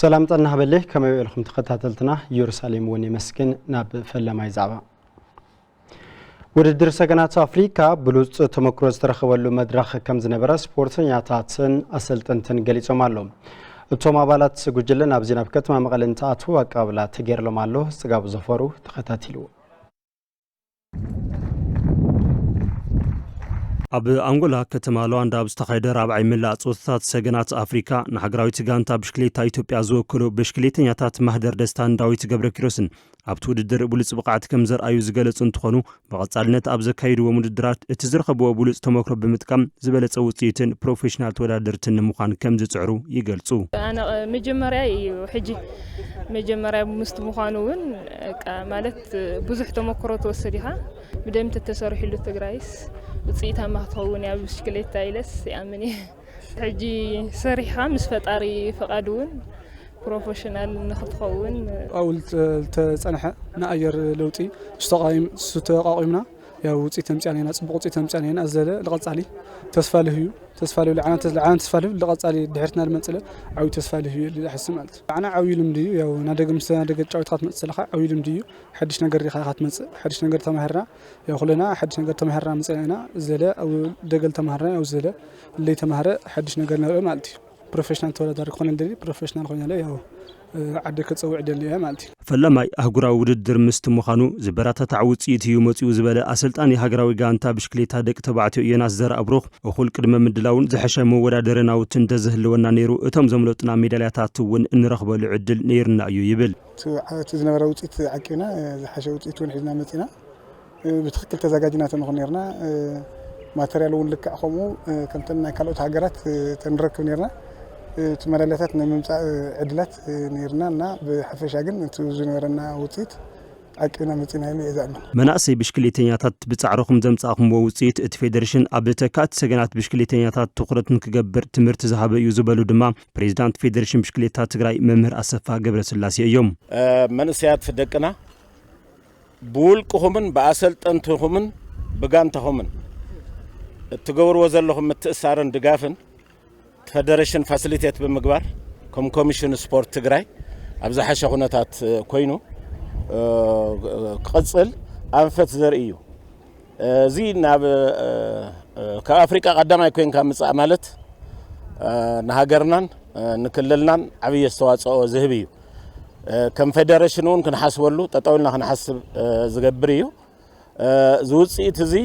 ሰላም ጠና ሃበሌ ከመይ ውዒልኩም ተኸታተልትና ኢየሩሳሌም እውን የመስግን ናብ ፈላማይ ዛዕባ ውድድር ሰገናት ኣፍሪካ ብሉፅ ተመክሮ ዝተረኸበሉ መድረኽ ከም ዝነበረ ስፖርተኛታትን ኣሰልጠንትን ገሊፆም ኣሎ እቶም ኣባላት ጉጅለ ናብዚ ናብ ከተማ መቐለ እንትኣትዉ ኣቀባብላ ተገይርሎም ኣሎ ፅጋቡ ዘፈሩ ተኸታቲልዎ ኣብ ኣንጎላ ከተማ ሉዋንዳ ኣብ ዝተኻየደ ራብዓይ መላእ ፆታታት ሰገናት ኣፍሪካ ንሃገራዊት ጋንታ ብሽክሌታ ኢትዮጵያ ዝወከሉ ብሽክሌተኛታት ማህደር ደስታን ዳዊት ገብረኪሮስን ኣብቲ ውድድር ብሉፅ ብቕዓት ከም ዘርኣዩ ዝገለፁ እንትኾኑ ብቐፃልነት ኣብ ዘካይድዎም ውድድራት እቲ ዝረኸብዎ ብሉፅ ተሞክሮ ብምጥቃም ዝበለፀ ውፅኢትን ፕሮፌሽናል ተወዳደርትን ንምዃን ከም ዝፅዕሩ ይገልፁ። ኣነ መጀመርያ እዩ ሕጂ መጀመርያ ምስቲ ምዃኑ እውን ማለት ብዙሕ ተመክሮ ትወስድ ኢኻ ብደም ተተሰሪሕሉ ትግራይስ ውፅኢታማ ክትኸውን እያ ብሽክሌታ ኢለስ ይኣምን እየ ሕጂ ሰሪሕኻ ምስ ፈጣሪ ፍቓድ እውን ፕሮፌሽናል ንክትኸውን ኣውል ተፀንሐ ንኣየር ለውጢ ዝተቃዋይም ዝተቃቂምና ያው ውፅኢት ተምፅኣና ኢና ፅቡቕ ውፅኢት ተምፅኣና ኢና ኣዘለ ልቐፃሊ ተስፋ ልህዩ ተስፋ ልህዩ ልዓና ተስፋ ልህዩ ልቐፃሊ ድሕርትና ልመፅለ ዓብዩ ተስፋ ልህዩ ኢሉ ዝሓስብ ማለት እዩ ልዓና ዓብዩ ልምዲ እዩ ያው ናደገ ምስ ናደገ ጫዊትካ ትመፅእ ዘለካ ዓብዩ ልምዲ እዩ ሓድሽ ነገር ሪኢኻ ኢኻ ትመፅእ ሓድሽ ነገር ተማሂርና ያው ኩለና ሓድሽ ነገር ተማሂርና መፅና ኢና ዘለ ኣብ ደገ ልተማሃርና ያው ዘለ ለይተማሃረ ሓድሽ ነገር ነርኢ ማለት እዩ ፕሮፌሽናል ተወዳዳሪ ክኾነ ደሊ ፕሮፌሽናል ኮይነ ያው ዓዲ ክጽውዕ ደሊ'የ ማለት እዩ። ፈላማይ ኣህጉራዊ ውድድር ምስቲ ምዃኑ ዝበረታታዕ ውጽኢት እዩ መጺኡ ዝበለ ኣሰልጣኒ ሃገራዊ ጋንታ ብሽክሌታ ደቂ ተባዕትዮ ዮናስ ዘርኣብሩኽ፣ እኹል ቅድመ ምድላውን ዝሐሸ መወዳደሪ ናውትን እንተዝህልወና ነይሩ እቶም ዘምለጡና ሜዳልያታት እውን እንረኽበሉ ዕድል ነይሩና እዩ ይብል። እቲ ዝነበረ ውጽኢት ዓቂብና ዝሐሸ ውጽኢት እውን ሒዝና መጺእና። ብትክክል ተዛጋጅና ተንኾን ነርና ማተርያል እውን ልክዕ ከምኡ ከምተን ናይ ካልኦት ሃገራት ተንረክብ ነርና እቲ መዳልያታት ናይ ምምፃእ ዕድላት ነርና እና ብሓፈሻ ግን እቲ ዝነበረና ውፅኢት ዓቂብና መፂና ኢሉ እየ ዝኣምን። መናእሰይ ብሽክሌተኛታት ብፃዕርኹም ዘምፃእኹምዎ ውፅኢት እቲ ፌዴሬሽን ኣብ ተካእቲ ሰገናት ብሽክሌተኛታት ትኹረት ንክገብር ትምህርቲ ዝሃበ እዩ ዝበሉ ድማ ፕሬዚዳንት ፌዴሬሽን ብሽክሌታ ትግራይ መምህር ኣሰፋ ገብረስላሴ እዮም። መንእሰያት ደቅና ብውልቅኹምን ብኣሰልጠንትኹምን ብጋንታኹምን እትገብርዎ ዘለኹም ምትእሳርን ድጋፍን ፈደረሽን ፋሲሊቴት ብምግባር ከም ኮሚሽን ስፖርት ትግራይ ኣብ ዝሓሸ ኩነታት ኮይኑ ክቕፅል ኣንፈት ዘርኢ እዩ። እዚ ናብ ካብ ኣፍሪቃ ቀዳማይ ኮይንካ ምጻእ ማለት ንሃገርናን ንክልልናን ዓብይ ኣስተዋጽኦ ዝህብ እዩ። ከም ፌደሬሽን እውን ክንሓስበሉ ጠጠው ኢልና ክንሓስብ ዝገብር እዩ። እዚ ውፅኢት እዚ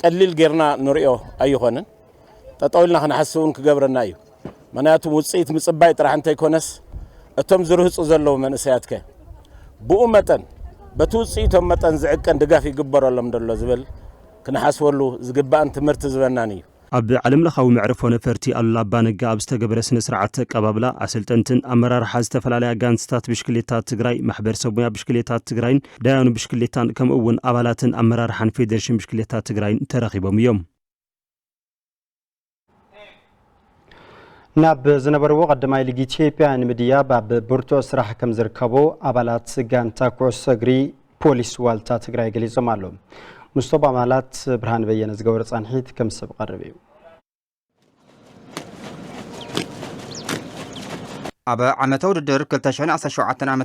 ቀሊል ጌርና ንሪኦ ኣይኾንን። ጠጠው ኢልና ክንሓስብ እውን ክገብረና እዩ። ምክንያቱ ውፅኢት ምፅባይ ጥራሕ እንተይኮነስ እቶም ዝርህፁ ዘለዉ መንእሰያት ከ ብኡ መጠን በቲ ውፅኢቶም መጠን ዝዕቀን ድጋፍ ይግበረሎም ዶ ኣሎ ዝብል ክንሓስበሉ ዝግባእን ትምህርቲ ዝበናን እዩ። ኣብ ዓለም ለኻዊ መዕርፎ ነፈርቲ ኣሉላ ኣባ ነጋ ኣብ ዝተገበረ ስነ ስርዓት ኣቀባብላ ኣሰልጠንትን ኣመራርሓ ዝተፈላለያ ጋንትታት ብሽክሌታ ትግራይ፣ ማሕበር ሰብ ሙያ ብሽክሌታ ትግራይን ዳያኑ ብሽክሌታን ከምኡ እውን ኣባላትን ኣመራርሓን ፌዴሬሽን ብሽክሌታ ትግራይን ተረኺቦም እዮም። ናብ ዝነበርዎ ቀዳማይ ሊግ ኢትዮጵያ ንምድያብ ኣብ ብርቱዕ ስራሕ ከም ዝርከቡ ኣባላት ጋንታ ኩዕሶ እግሪ ፖሊስ ዋልታ ትግራይ ገሊፆም ኣለዉ ምስቶም ኣባላት ብርሃን በየነ ዝገበሩ ፃንሒት ከም ሰብ ቀርብ እዩ ኣብ ዓመተ ውድድር 2017 ዓ ም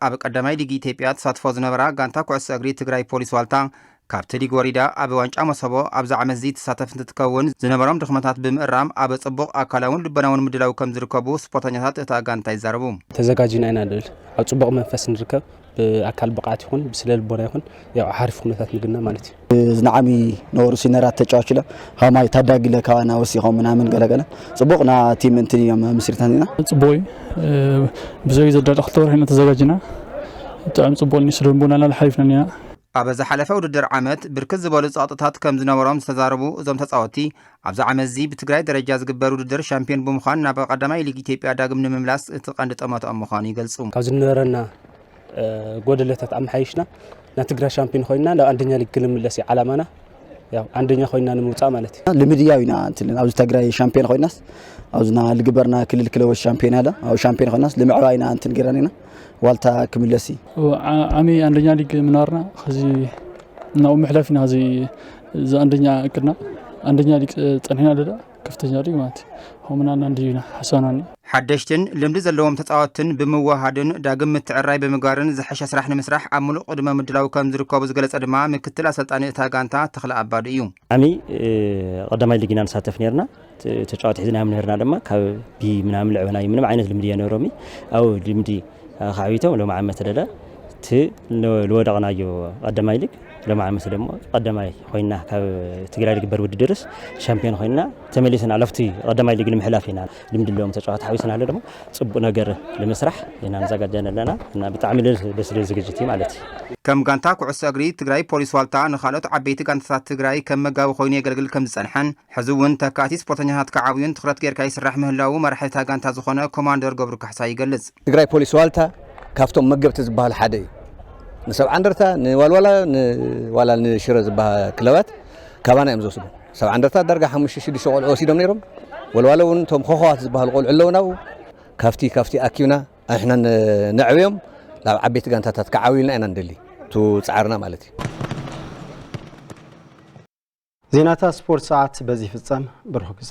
ኣብ ቀዳማይ ሊግ ኢትዮጵያ ተሳትፎ ዝነበራ ጋንታ ኩዕሶ እግሪ ትግራይ ፖሊስ ዋልታ ካብ ተዲግ ወሪዳ ኣብ ዋንጫ መሶቦ ኣብዚ ዓመትዚ ትሳተፍ እንትትከውን፣ ዝነበሮም ድኽመታት ብምእራም ኣብ ፅቡቕ ኣካላውን ልቦናውን ምድላው ከምዝርከቡ ስፖርተኛታት እታ ጋንታ ይዛረቡ። ተዘጋጂና ኢና ልብል ኣብ ፅቡቕ መንፈስ ንርከብ ብኣካል ብቕዓት ይኹን ብስለ ልቦና ይኹን ያው ሓሪፍ ኩነታት ንግነ ማለት እዩ። ዝነዓሚ ነበሩ ሲነራት ተጫዋች ለ ከማይ ታዳጊ ለ ካባና ወሲኾም ምናምን ገለገለ ፅቡቕ ና ቲም እንትን እዮም ምስሪትና ኢና ፅቡቕ እዩ ብዘይ ዘዳለ ክልተ ወርሒ ኢና ተዘጋጂና ብጣዕሚ ፅቡቕ ኒ ስለ ልቦናና ሓሪፍና ኒና ኣብ ዝሓለፈ ውድድር ዓመት ብርክት ዝበሉ ጸቕጥታት ከም ዝነበሮም ዝተዛረቡ እዞም ተጻወቲ ኣብዚ ዓመትዚ ብትግራይ ደረጃ ዝግበር ውድድር ሻምፒዮን ብምዃን ናብ ቀዳማይ ሊግ ኢትዮጵያ ዳግም ንምምላስ እቲ ቀንዲ ጠመትኦም ምዃኑ ይገልጹ። ካብ ዝነበረና ጎደለታት ኣመሓይሽና ናብ ትግራይ ሻምፒዮን ኮይና ናብ ኣንደኛ ሊግ ክንምለስ እዩ ዓላማና። ያው አንደኛ ኮይና ንምውፃእ ማለት እዩ ልምድ ያው ኢና እንትልን ኣብዚ ትግራይ ሻምፒዮን ኮይናስ ኣብዝና ልግበርና ክልል ክለቦች ሻምፒዮን ያለ ኣብ ሻምፒዮን ኮይናስ ልምዕባይና እንትን ገይረን ኢና ዋልታ ክምለሲ ዓሚ ኣንደኛ ሊግ ምናርና ከዚ እናኡ ምሕለፍ ኢና እዚ ኣንደኛ እቅድና ኣንደኛ ሊግ ፀኒሕና ደዳ ከፍተኛ ሊግ ማለት እዩ ከምና ናንዲ ኢና ሓሳብና ሓደሽትን ልምዲ ዘለዎም ተፃወትትን ብምውሃድን ዳግም ምትዕራይ ብምግባርን ዝሐሸ ስራሕ ንምስራሕ ኣብ ምሉእ ቅድመ ምድላው ከም ዝርከቡ ዝገለፀ ድማ ምክትል ኣሰልጣኒ እታ ጋንታ ተኽለ ኣባዱ እዩ። ዓሚ ቐዳማይ ሊግ ኢና ንሳተፍ ነይርና። ተጫወቲ ሒዝና ምህርና ድማ ካብ ቢ ምናምን ልዕበና ምንም ዓይነት ልምዲ የነሮሚ ኣብ ልምዲ ካዕቢቶም ሎም ዓመት ደለ እቲ ልወደቕናዮ ቀዳማይ ሊግ ሎም ዓመት ደሞ ቀዳማይ ኮይና ካብ ትግራይ ልግበር ውድድርስ ሻምፒዮን ኮይና ተመሊስና ለፍቲ ቀዳማይ ሊግ ንምሕላፍ ኢና ልምዲ ሎም ተጫዋት ሓዊስና ኣሎ ደሞ ፅቡቅ ነገር ንምስራሕ ኢና ንዘጋጀን ኣለና እና ብጣዕሚ ደስ ዝብል ዝግጅት እዩ ማለት እዩ ከም ጋንታ ኩዕሶ እግሪ ትግራይ ፖሊስ ዋልታ ንካልኦት ዓበይቲ ጋንታታት ትግራይ ከም መጋቢ ኮይኑ የገልግል ከም ዝፀንሐን ሕዚ እውን ተካእቲ ስፖርተኛታት ክዓብዩን ትኽረት ገይርካ ይስራሕ ምህላዉ መራሒ እታ ጋንታ ዝኾነ ኮማንደር ገብሩ ካሕሳይ ይገልፅ። ትግራይ ፖሊስ ዋልታ ካብቶም መገብቲ ዝበሃሉ ሓደ እዩ። ንሰብዓ እንደርታ፣ ንዋልዋላ፣ ዋላ ንሽረ ዝበሃ ክለባት ካባና እዮም ዝወስዱ። ሰብዓ እንደርታ ዳርጋ ሓሙሽተ ሽዱሽተ ቆልዑ ወሲዶም ነይሮም። ወልዋሎ እውን እቶም ኾኾዋት ዝበሃሉ ቆልዑ ኣለዉና ኣብኡ። ካብቲ ካብቲ ኣኪብና ኣንሕና ነዕብዮም ናብ ዓበይቲ ጋንታታት ክዓብዩልና ኢና ንደሊ። እቱ ፃዕርና ማለት እዩ። ዜናታት ስፖርት ሰዓት በዚ ይፍጸም። ብሩኽ ግዘ።